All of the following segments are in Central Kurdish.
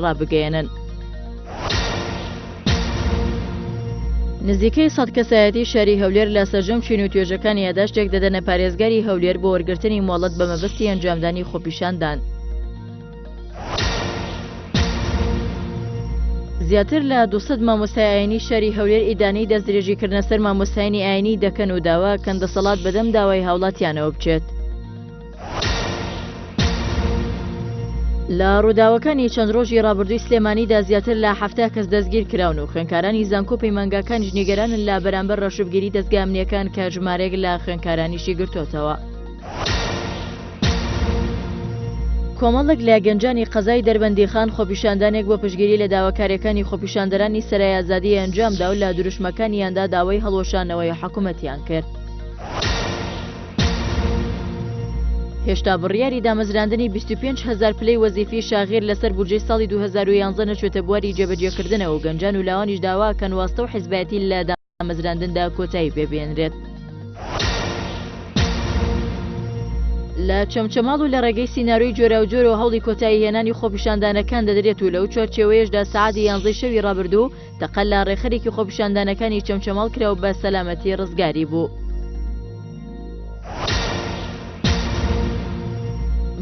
ڕابگەیەنن. نزیکەی سەد کەسایەتی شاری هەولێر لە سەرجەم چین و توێژەکان یاداشتێک دەدەنە پارێزگاری هەولێر بۆ وەرگرتنی مۆڵەت بە مەبەستی ئەنجامدانی خۆپیشاندان. زیاتر لە 200 مامۆستای ئاینی شاری هەولێر ئیدانەی دەستدرێژی کردنە سەر مامۆستایانی ئاینی دەکەن و داواکەن دەسەڵات بەدەم داوای هاوڵاتیانەوە بچێت. لە ڕووداوەکانی چەند ڕۆژی ڕابردووی سلێمانیدا زیاتر لە هەفتا کەس دەستگیر کراون و خوێنکارانی زانکۆ پەیمانگاکانیش نیگەرانن لە بەرامبەر ڕەشبگیری دەستگامنیەکان کە ژمارێک لە خوێنکارانیشی گرتوتەوە. کۆمەڵک لە گەنجانی قەزای دەربەندیخان خۆپیشاندانێک بۆ پشگیری لە داواکارەکانی خۆپیشاندەرانی سەرای ئازادی ئەنجامدا و لە دروشمەکانیاندا داوای هەڵوەشانەوەی حکوومەتیان کرد. هێشتا بڕیاری دامەزراندنی 25 هزار پلەی وەزیفی شاغیر لەسەر بودجەی ساڵی 2011 نەچێتە بواری جێبەجێکردنەوە و گەنجان و لاوانیش داواکەن واستە و حزبایەتی لە دامەزراندندا کۆتایی پێبێنرێت. لە چەمچەماڵ و لە ڕێگەی سینناروی جۆراوجۆرەوە هەوڵی کۆتایی هێنانی خۆپیشاندانەکان دەدرێت و لەو چوارچێوەیەشدا سعادی یانزەی شەوی ڕابردوو تەقە لە ڕێخەرێکی خۆپیشاندانەکانی چەمچەماڵ کرا و بە سەلامەتی ڕزگاری بوو.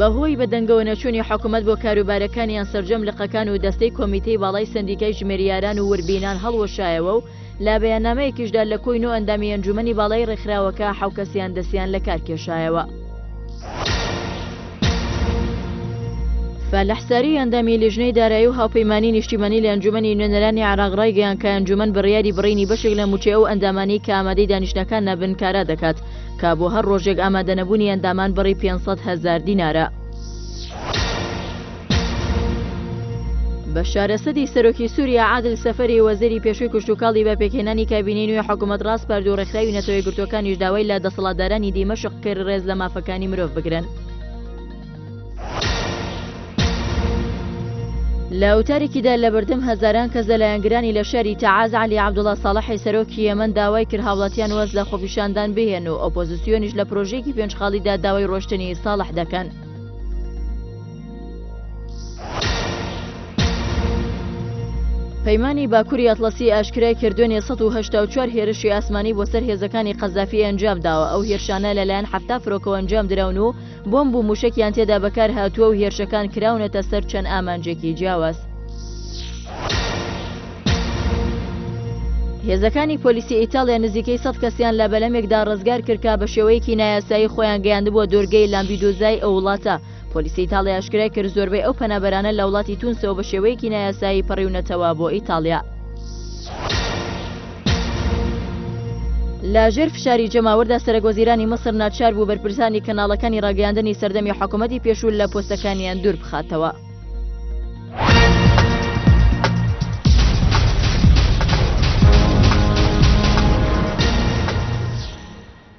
بەهۆی بەدەنگەوە نەچوونی حکوومەت بۆ کاروبارەکانیان سرجەم لقەکان و دەستەی کۆمیتەی باڵای سندیکای ژمێریاران و وربینان هەڵوەشایەوە و لە بەیاننامەیەکیشدا لە کۆی نۆ ئەندامی ئەنجومەنی باڵای ڕێکخراوەکە حەوکەسیان دەسیان لە کار کێشایەوە. فالح ساری ئەندامی لیژنەی دارایی و هاوپەیمانی نیشتیمانی لە ئەنجومەنی نوێنەرانی عێراق ڕایگەیان کە ئەنجومەن بڕیاری بڕینی بەشێک لە مووچەی ئەو ئەندامانەی کە ئامادەی دانیشتنەکان نابن کارا دەکات کە بۆ هەر ڕۆژێک ئامادەنەبوونی ئەندامان بڕی 500 هەزار دینارە. بەشار ئەسەدی سەرۆکی سووریا عادل سەفەری وەزیری پێشووی کشتوکاڵی بە پێکهێنانی کابینەی نوێ حکوومەت ڕاسپارد و ڕێکخراوی نەتەوە یەکگرتووەکانیش داوای لە دەسەڵاتدارانی دیمەشق کرد ڕێز لە مافەکانی گیانی مرۆڤ بگرن. لە وتارێکیدا لە بەردەم هەزاران کەس لە لایەنگرانی لە شاری تەعاز عەلی عەبدوڵا ساڵحی سەرۆکی یەمەن داوای کرد هاوڵاتیان واز لە خۆپیشاندان بهێن و ئۆپۆزیسیۆنیش لە پرۆژەیەکی پێنج خاڵیدا داوای ڕۆشتنی ساڵح دەکەن. پەیمانی باکوری ئەتلەسی ئاشکرای کرد دوێنێ 1970 هێرشی ئاسمانی بۆ سەر هێزەکانی قەزافی ئەنجام داوە ئەو هێرشانە لەلایەن حفتا فرۆکەوە ئەنجام دراون و بۆمب و موشکیان تێدا بەکار هاتووە و هێرشەکان کراونەتە سەر چەند ئامانجێکی جیاواز. هێزەکانی پۆلیسی ئیتالیا نزیکەی سەد کەسیان لە بەلەمێکدا ڕزگار کردکە بە شێوەیەکی نایاسایی خۆیان گەیاندبووە دۆرگەی لامبیدۆزای ئەو وڵاتە پۆلیسی ئیتاڵیا ئاشکرای کرد زۆربەی ئەو پەنابەرانە لە وڵاتی تونسەوە بە شێوەیەکی نایاسایی پەڕیونەتەوە بۆ ئیتاڵیا. لە ژێر فشاری جەماوەردا سەرەک وەزیرانی مصر ناچار بوو بەرپرسانی کەناڵەکانی ڕاگەیاندنی سەردەمی حکوومەتی پێشوو لە پۆستەکانیان دوور بخاتەوە.